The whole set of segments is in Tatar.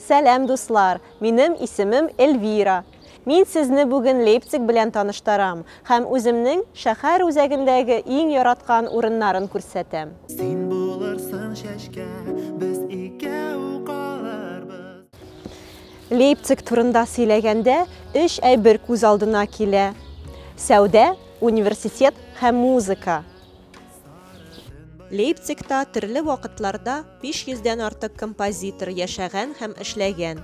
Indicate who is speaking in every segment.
Speaker 1: Сәлам дуслар, минем исемем Эльвира. Мин сезне бүген Лейпциг белән таныштарам һәм үземнең шәхәр үзәгендәге иң яраткан урыннарын күрсәтәм. Син булырсың чәчкә, без икәү калырбыз. Лейпциг турында сөйләгәндә, өч әйбер күз алдына килә, сәүдә, университет һәм музыка. Лейпцигта төрле вакытларда 500 дән артык композитор яшәгән һәм эшләгән.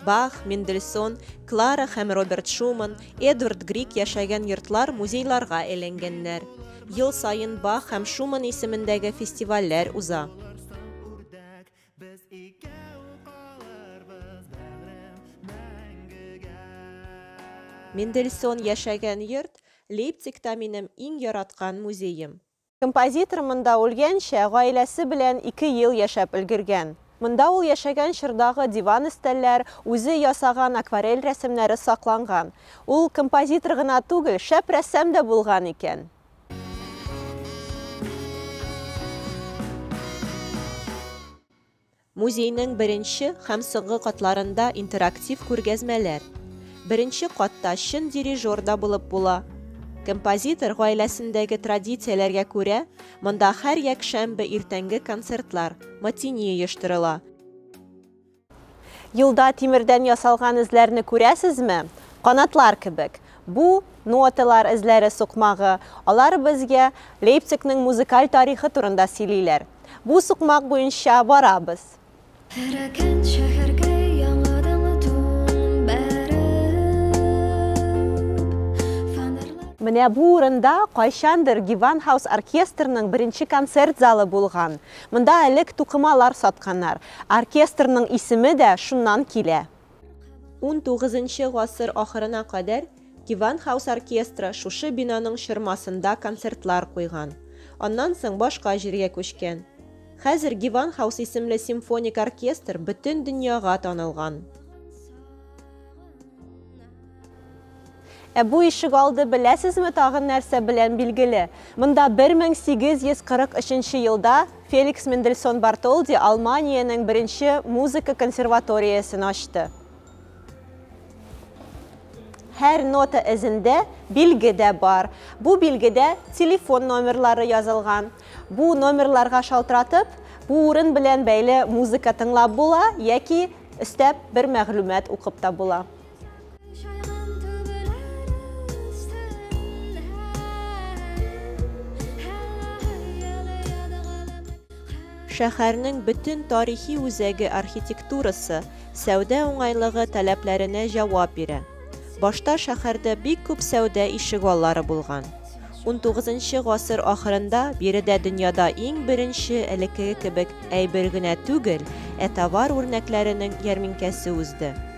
Speaker 1: Бах, Мендельсон, Клара һәм Роберт Шуман, Эдвард Грик яшәгән йортлар музейларга әйләнгәннәр. Ел саен Бах һәм Шуман исемендәге фестивальләр уза. Без икәү калырбыз, бәгърем, мәңгегә. Мендельсон яшәгән йорт, Лейпцигта минем иң яраткан музеем. Композитор монда үлгәнчә гаиләсе белән ике ел яшәп өлгергән. Монда ул яшәгән чордагы диван-өстәлләр, үзе ясаган акварель рәсемнәре сакланган. Ул композитор гына түгел, шәп рәссам да булган икән. Музейның беренче һәм соңгы катларында интерактив күргәзмәләр. Беренче катта чын дирижер да булып була. Композитор гаиләсендәге традицияләргә күрә, монда һәр якшәмбе иртәнге концертлар, матини оештырыла. Юлда тимердән ясалган эзләрне күрәсезме? Канатлар кебек. Бу, ноталар эзләре сукмагы. Алар безгә Лейпцигның музыкаль тарихы турында сөйлиләр. Бу сукмак буенча барабыз. Эрегән шәһәргә яңадан тун бәреп. Менә бу урында кайчандыр Геванхаус оркестрының беренче концерт залы булган. Монда элек тукымалар сатканнар. Оркестрның исеме дә шуннан килә. XIX нчы гасыр ахырына кадәр Gewandhaus оркестры шушы бинаның чормасында концертлар куйган. Аннан соң башка җиргә күчкән. Хәзер Gewandhaus исемле симфоник оркестр бөтен дөньяга танылган. Ә бу ишегалды беләсезме тагын нәрсә белән билгеле? Монда 1843 елда Феликс Мендельсон Бартолди Алманиянең беренче музыка консерваториясен ачты. Һәр нота эзендә билге дә бар. Бу билгедә телефон номерлары язылган. Бу номерларга шалтыратып, бу урын белән бәйле музыка тыңлап була яки өстәп бер мәгълүмат укып та була. Шәһәрнең бөтен тарихи үзәге архитектурасы, сәүдә уңайлыгы таләпләренә җавап бирә. Башта шәһәрдә бик күп сәүдә ишегаллары булган. Унтугызынчы гасыр ахырында биредә дөньяда иң беренче элеккеге кебек әйбер генә түгел, ә товар үрнәкләренең ярминкәсе узды.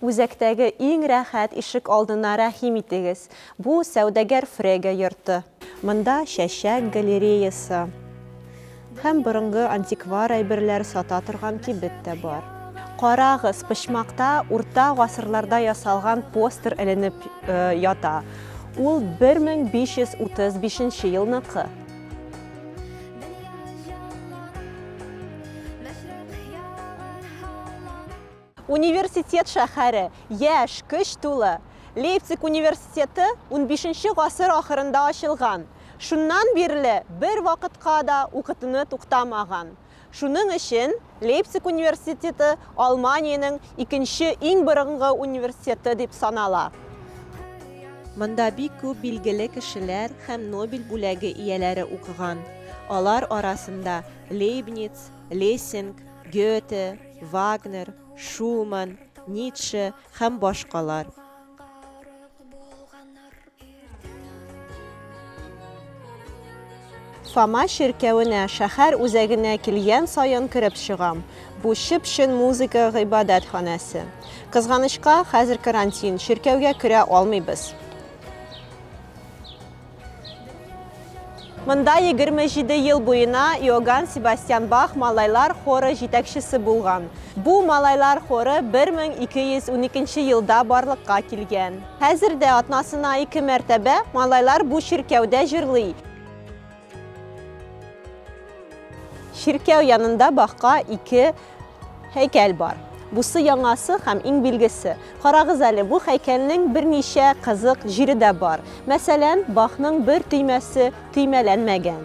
Speaker 1: Үзәктәге иң рәхәт ишек алдына рәхим итегез, бу, сәүдәгәр Фрега йорты. Монда чәчәк галереясы һәм борынгы антиквар әйберләр сата торган кибет тә бар. Карагыз, почмакта урта гасырларда ясалган постер эленеп ята, ул 1535 елныкы. Университет шәһәре, яшь, көч тулы. Лейпциг университеты 15 гасыр ахырында ачылган. Шуннан бирле бер вакытка да укытуны туктамаган. Шуның өчен Лейпциг университеты Алманиянең икенче иң борынгы университеты дип санала. Монда бик күп билгеле кешеләр һәм Нобель бүләге ияләре укыган. Алар арасында Лейбниц, Лессинг, Гёте, Вагнер, Шуман, Ницше һәм башкалар. Фома чиркәвенә, шәһәр үзәгенә килгән саен кереп чыгам. Бу чып-чын музыка гыйбадәтханәсе. Кызганычка, хәзер карантин, чиркәүгә керә алмыйбыз. Монда егерме җиде ел буена Иоганн Себастьян Бах малайлар хоры җитәкчесе булган. Бу малайлар хоры бер мең ике йөз уникенче елда барлыкка килгән. Хәзер дә атнасына ике мәртәбә малайлар бу чиркәүдә җырлый. Чиркәү янында Бахка ике Һәйкәл бар. Бусы яңасы һәм иң билгесе. Карагыз әле, бу һәйкәлнең берничә кызык җире дә бар. Мәсәлән, бахның бер төймәсе төймәләнмәгән.